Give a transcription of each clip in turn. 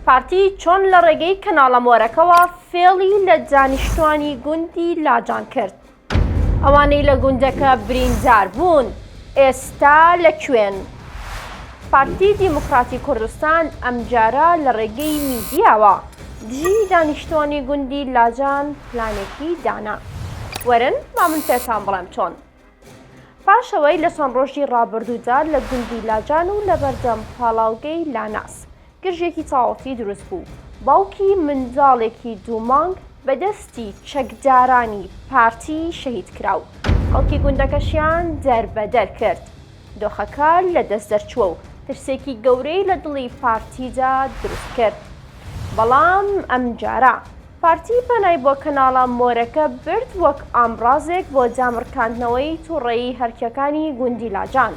پارتی چۆن لە ڕێگەی کەناڵە مۆرەکەوە فێڵی لە دانیشتوانی گوندی لاجان کرد؟ ئەوانەی لە گوندەکە بریندار بوون ئێستا لە کوێن؟ پارتی دیموکراتی کوردستان ئەمجارە لە ڕێگەی میدیاوە دژی دانیشتوانی گوندی لاجان پلانێکی دانا وەرن با من پێتان بڵێم چۆن پاش ئەوەی لە چەند ڕۆژی ڕابردوودا لە گوندی لاجان و لە بەردەم پاڵاوگەی لاناس گرژێکی تاوەتی دروست بوو، باوکی منداڵێکی دوو مانگ بە دەستی چەکدارانی پارتی شەهید کرا و خەڵکی گوندەکەشیان دەربەدەر کرد. دۆخەکە لە دەست دەرچووە و ترسێکی گەورەی لە دڵی پارتیدا دروست کرد، بەڵام ئەمجارە، پارتی پەنای بۆ کەناڵە مۆرەکە برد وەک ئامڕازێک بۆ دامڕکاندنەوەی توڕەیی هەرکیەکانی گوندی لاجان.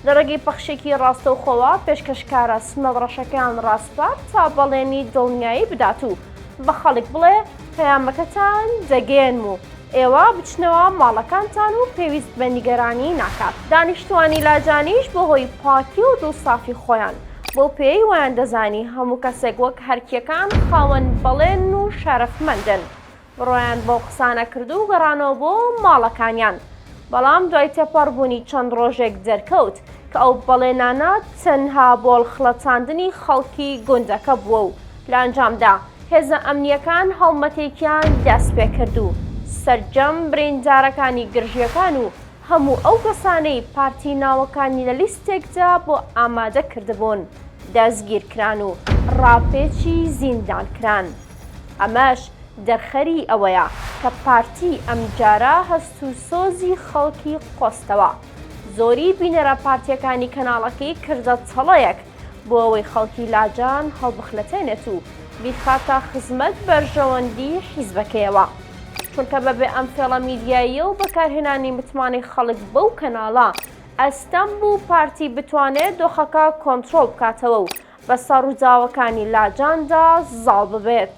لە ڕێگەی پەخشێکی ڕاستەوخۆوە پێشکەشکارە سمێڵ ڕەشەکەیان ڕاسپارد تا بەڵێنی دڵنیایی بدات و بە خەڵک بڵێ پەیامەکەتان دەگەیەنم و ئێوە بچنەوە ماڵەکانتان و پێویست بە نیگەرانی ناکات. دانیشتوانی لاجانیش بە هۆی پاکی و دڵسافی خۆیان، بەو پێیەی وایان دەزانی هەموو کەسێک وەک هەرکییەکان خاوەن بەڵێن و شەرەفمەندن، بڕوایان بەو قسانە کرد و گەڕانەوە بۆ ماڵەکانیان. بەڵام دوای تێپەڕ بوونی چەند ڕۆژێک دەرکەوت کە ئەو بەڵێنانە تەنها بۆ ڵخڵەتاندنی خەڵکی گوندەکە بووە و، لە ئەنجامدا هێزە ئەمنییەکان هەڵمەتێکیان دەستپێکرد و سەرجەم بریندارەکانی گرژییەکان و هەموو ئەو کەسانەی پارتی ناوەکانی لە لیستێکدا بۆ ئامادە کردبوون دەستگیرکران و ڕاپێچی زیندان کران. ئەمەش دەرخەری ئەوەیە کە پارتی ئەمجارە هەست و سۆزی خەڵکی قۆستەوە. زۆری بینەرە پارتییەکانی کەناڵەکەی کردە تەڵەیەک. بۆ ئەوەی خەڵکی لاجان هەڵبخنەتێنێت و بیخاتە خزمەت بەرژەوەندی حیزبەکەیەوە چونکە بەبێ ئەم فێڵە میدیاییە و بەکارهێنانی متمانەی خەڵک بەو کەناڵە ئەستەم بوو پارتی بتوانێت دۆخەکە کۆنترۆڵ بکاتەوە و بەسەر ڕووداوەکانی لاجاندا زاڵ ببێت.